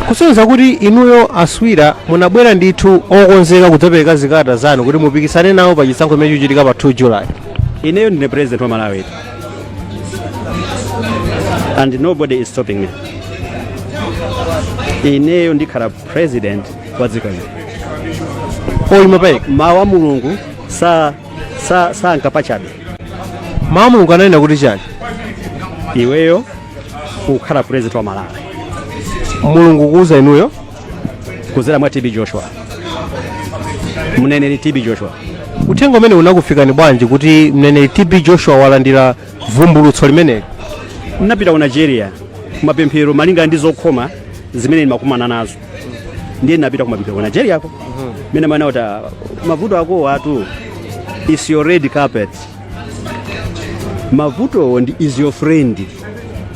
kusonyeza kuti inuyo a swira munabwera ndithu okonzeka kudzapereka zikalata zanu kuti mupikisane nawo pa chisankho chimene chikuchitika pa 2 july ineyo ndine president wa malawi and nobody is stopping me ineyo ndikhala president wa dziko lino oyima payekha mawu a mulungu sa sa sanka pachabe mawu a mulungu ananena kuti chani iweyo kukhala president wa malawi mulungu ukuuza inuyo kuzera mwa tb joshua mneneri tb joshua uthenga umenewu unakufikani bwanji kuti mneneri tb joshua walandira vumbulutso limeneli ndinapita ku nigeria kumapemphero malinga ndi zokhoma zimene ndimakumana nazo ndiye ndinapita kumapemphero ku nigeriako mmene amanena kuti mavuto akowatu is your red carpet mavutowo ndi is your friend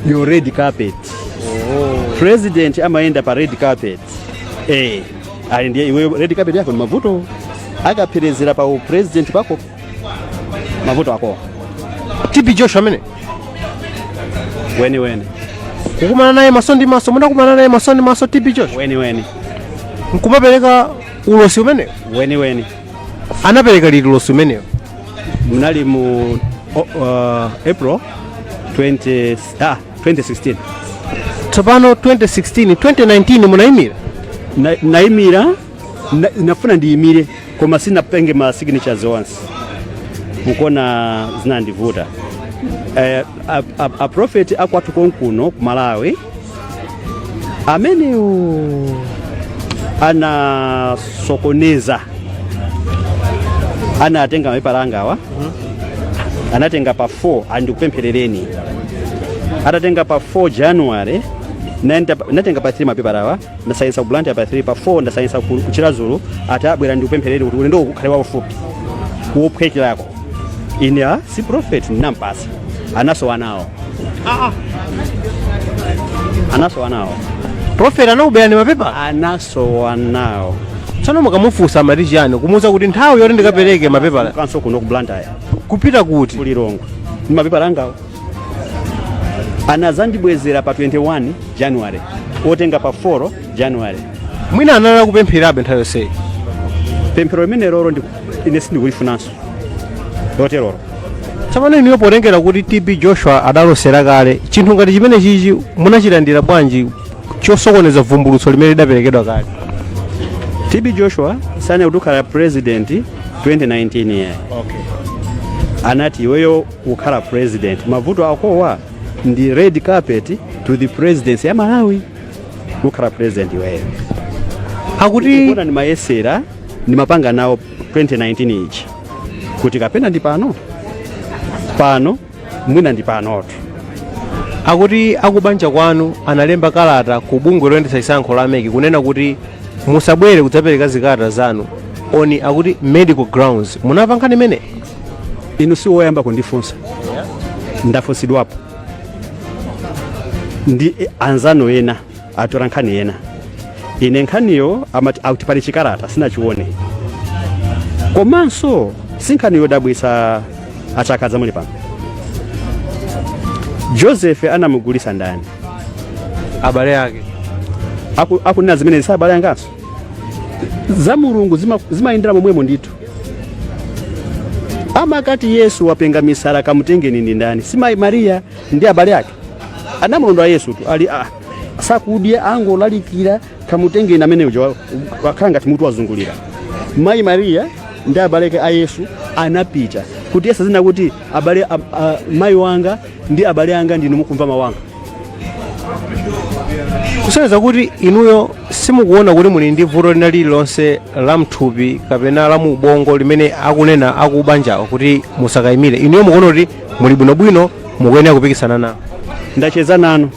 your red carpet president amayenda pa red carpet eh ali ndiye iwe red carpet yako ndi mavuto akaperekezera pa u president pako mavuto akowa tb joshua amene mwini weni kukumana naye maso ndi maso munakumana naye maso ndi maso tb joshua weniweni nkumapereka ulosi umenewo weniweni anapereka liti ulosi umenewo munali mu o- uh, april 20, ah, 2016 tsopano 2016 2019 munayimira ndi- ndinayimira ndi- ndinafuna ndiyimire koma sindinapeze ma signatures onse mukuona zinandivuta eh, a, a, a prophet akwathu konkuno ku malawi amenewo anasokoneza anatenga mapepala angawa anatenga pa 4 ati ndikupempherereni adatenga pa 4 january anatenga anatenga pa 3 mapepala awa ndasayinsa ku blantyre pa 3 pa 4 ndasayinsa ku ku chiradzulu atabwera ati ndikupempherereni kuti ulendo ukhale waufupi wophwekerako ine a si prophet ndinampasa anasowa nawo anasowa nawo profeti anakuberani mapepala anasowa nawo tsono mukamufunsa amati chiyani kumuuza kuti nthawi yoti ndikapereke mapepala kansokonuko ku blantyre kupita kuti ku lilongwe ndi mapepala angawo anadzandibwezera pa 21 january otenga pa 4 january mwina anali kupempherabe nthawi yonseyi pemphero limenelo ndi- ine sindikulifunanso loterolo tsopano inuyo potengera kuti tb joshua adalosera kale chinthu ngati chimene chichi munachilandira bwanji chosokoneza vumbulutso limene lidaperekedwa kale tb joshua sanene kuti ukhala president 2019 year anati iweyo ukhala president mavuto akowa ndi red carpet to the presidency ya malawi kukhala president iweyo akuti kuona ndimayesera ndimapanga nawo 2019 ichi kuti kapena ndi pano pano mwina ndi panotu akuti akubanja kwanu analemba kalata ku bungwe loyendetsa chisankho la MEC kunena kuti musabwere kudzapereka zikalata zanu on akuti medical grounds munamva nkhani imene inu si woyamba kundifunsa ndafunsidwapo ndi anzanu ena atola nkhani ena ine nkhaniyo amati akuti pali chikalata sindinachione komanso si nkhani yodabwitsa a Chakhaza muli pano joseph anamugulitsa ndani abale ake Aku- akunena zimenezi ndi abale anganso za mulungu zima- zimayendera momwemo ndithu amakati yesu wapenga misala kamutengeni ndi ndani si mayi mariya ndi abale ake anamulondola yesutu ali ah, sakudya angolalikira kamutengeni amene uja wa- wakhala ngati mutu wazungulira mayi mariya ndi abale ake a yesu anapita kuti yesu adzanena kuti abale a- a- mayi wanga ndi abale anga ndinu mukumva mawu anga kusonyeza kuti inuyo simukuona kuti muli ndi vuto lina lililonse la mthupi kapena la mu ubongo limene akunena akubanjawo kuti musakayimire inuyo mukuona kuti muli bwinobwino mukuyenera kupikisana nawo ndacheza nanu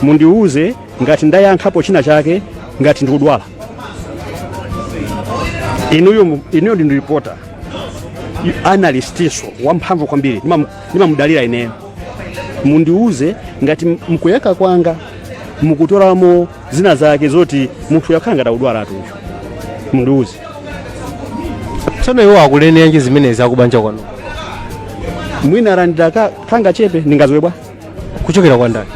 mundiwuze ngati ndayankhapo china chake ngati ndikudwala inuyo mu- inuyo ndi reporter analyst inso wamphamvu kwambiri Ndimam- ndimamudalira ineyo mundiuze ngati m- mkuyankha kwanga mukutolamo zina zake zoti munthuyu akhala ngati akudwala atuyo mundiuze tsono iwo akuneneranji zimenezi akubanja kwanu mwina arandira ka- kangachepe ndingadziwe bwa kuchokera kwa ndani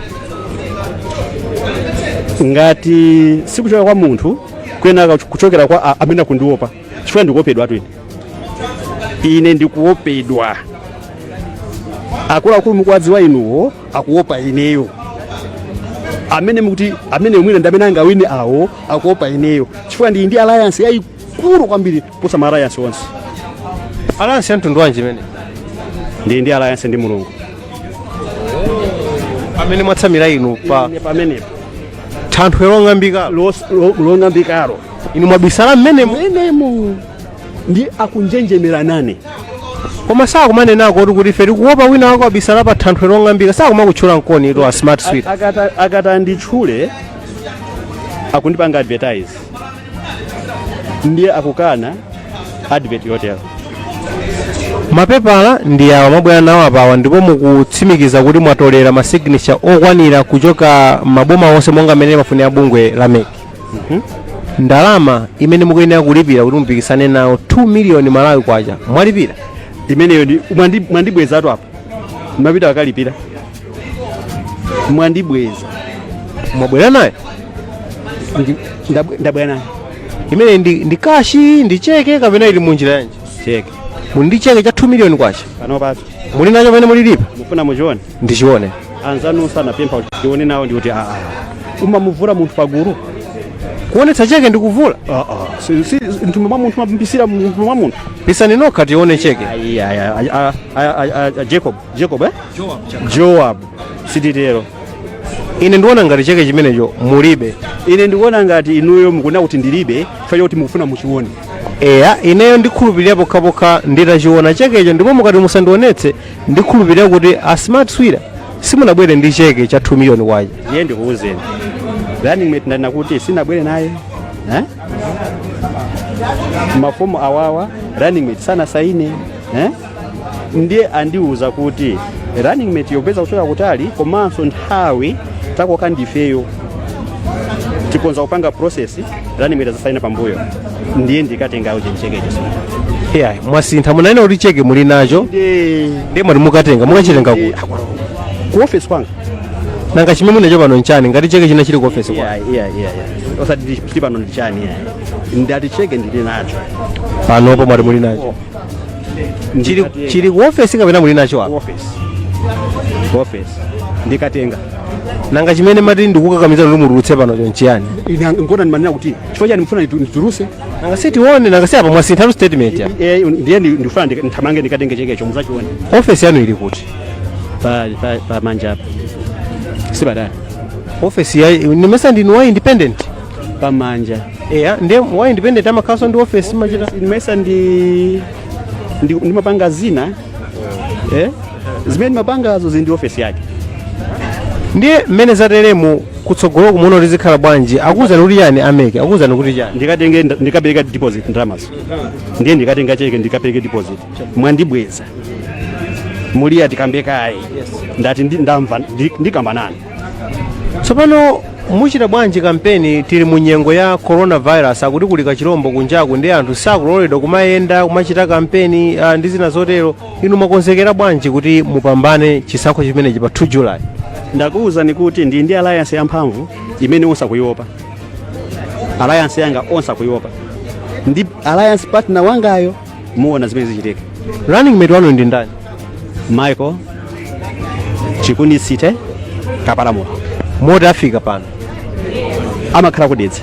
ngati sikuchokera kwa munthu kuyenera kuchokera kwa a- amene akundiopa chifukwa ndikuopedwatu ine ndikuopedwa akuluakulu mukuwadziwa inuwo akuopa ineyo amene mukuti amene mwina ndi amene angawine awo akuopa ineyo chifukwa ndili ndi alliance yayikulu kwambiri kuposa ma alliance onse alliance ya mtundu wanji imene ndili ndi alliance ndi mulungu amene mwatsamira inu pamenepo thanthwe long'ambika long'ambikalo inu mwabisala mmenemo menemo ndi akunjenjemera nane koma sakumanenako kuti kuti ife tikuopa wina wake wabisala pa thanthwe long'ambika sakumakutchula nkomwe eti a smart swira akati akati anditchule akundipanga advertise ndiye akukana advert yotero mapepala ndi awa mwabwera nawo apawa ndipo mukutsimikiza kuti mwatolera masignature okwanira kuchoka maboma onse monga mmene limafunira bungwe la mec ndalama imene mukuyenera kulipira kuti mupikisane nawo 2 miliyoni malawi kwacha mwalipira imeneyo ndi mwandi- mwandibwezatu apo mapita akalipira mwandibweza mwabwera nayo Ndi- ndabwe- ndabwera nayo imene ndi, ndi kashi ndi cheke kapena ili munjira yanji cheke muli ndi cheke cha 2 miliyoni kwacha panopaso muli nacho pamene mulilipa mufuna muchione ndichione anzanu sanapempha kuti tione nawo ndiye kuti aa sumamuvula munthu pagulu kuonetsa cheke ndikuvula aa si- si- mtumbo mwa munthu mabisira mtumbo mwa munthu pisani nokha tione cheke Ayi, ayi, ayi, a- a- a- a- a- jacob jacob eh? joab sititero ine ndikuona ngati cheke chimenecho mulibe ine ndikuona ngati inuyo mukunena kuti ndilibe chifukwa kuti mukufuna muchione eya ineyo ndikhulupirira pokhapokha nditachiona chekecho ndipo mukati musandionetse ndikhulupirira kuti a smart swira simunabwere ndi cheke cha 2 million kwacha ndiye ndikuwuzeni running mate ndanena kuti sinabwere naye eh? mafomu awawa running mate sanasaine eh? ndiye andiwuza kuti running mate wopeza kuchoka kutali komanso nthawi takoka ndifeyo tikonza kupanga process zanimira zasaina pambuyo ndiye ndikatenga uja ndicheke icho sinthu yeah mwasintha munanena kuti cheke muli nacho ndi ndiye mwati mukatenga mukachitenga kuti ku office kwanga nanga chimene muli nacho pano nchani ngati cheke china chili ku ofesi kwa yeah yeah yeah yeah osati ndi- ndi pano ndi chani yeah ndati cheke ndili nacho panopo mwati muli nacho chili Ndikati- chili ku office kapena muli nacho apa office office ndikatenga nanga chimene mati ndikukakamiza kuti mutulutse pano cho nchiyani Ina- nkona ndimanena kuti chifukwa chani mufuna nditu- ndituluse nanga sitione nanga si apa mwasinthatu statement ya Eh, ndiye ndi- ndifuna ndika- ndithamange ndikatenge chekecho mudzachione office yanu ili kuti pa pa- pa manja apa sipatali office ya nimesa ndinu wa independent pamanja eya nde wa independent amakhalanso ndi office machita nimesa ndi ndi- ndimapanga zina eh? zimene ndimapangazo zili ndi ofesi yake ndiye mmene zateremo kutsogolo mukuona kuti zikhala bwanji akuwuzani kuti chani a mec akuwuzani kuti chani ndikatenge nda- ndikapereke deposit ndalamazo ndiye ndikatenga cheke ndikapereke deposit mwandibweza muliya tikamba kaye ndati ndi- ndamva ndi- ndikamba nanu tsopano muchita bwanji kampeni tili mu nyengo ya coronavirus akuti kuli kachilombo kunjaku ndi anthu sakuloledwa kumayenda kumachita kampeni ah, ndi zina zotero inu mwakonzekera bwanji kuti mupambane chisankho chimenechi pa 2 july ndakuwuzani kuti ndi ndi alliance yamphamvu imene onse akuiopa alliance yanga onse akuiopa ndi alliance partner wangayo muona zimene zichitike running mate wanu ndi ndani michael chikunisite kapalamula moti afika pano amakhala ku Dedza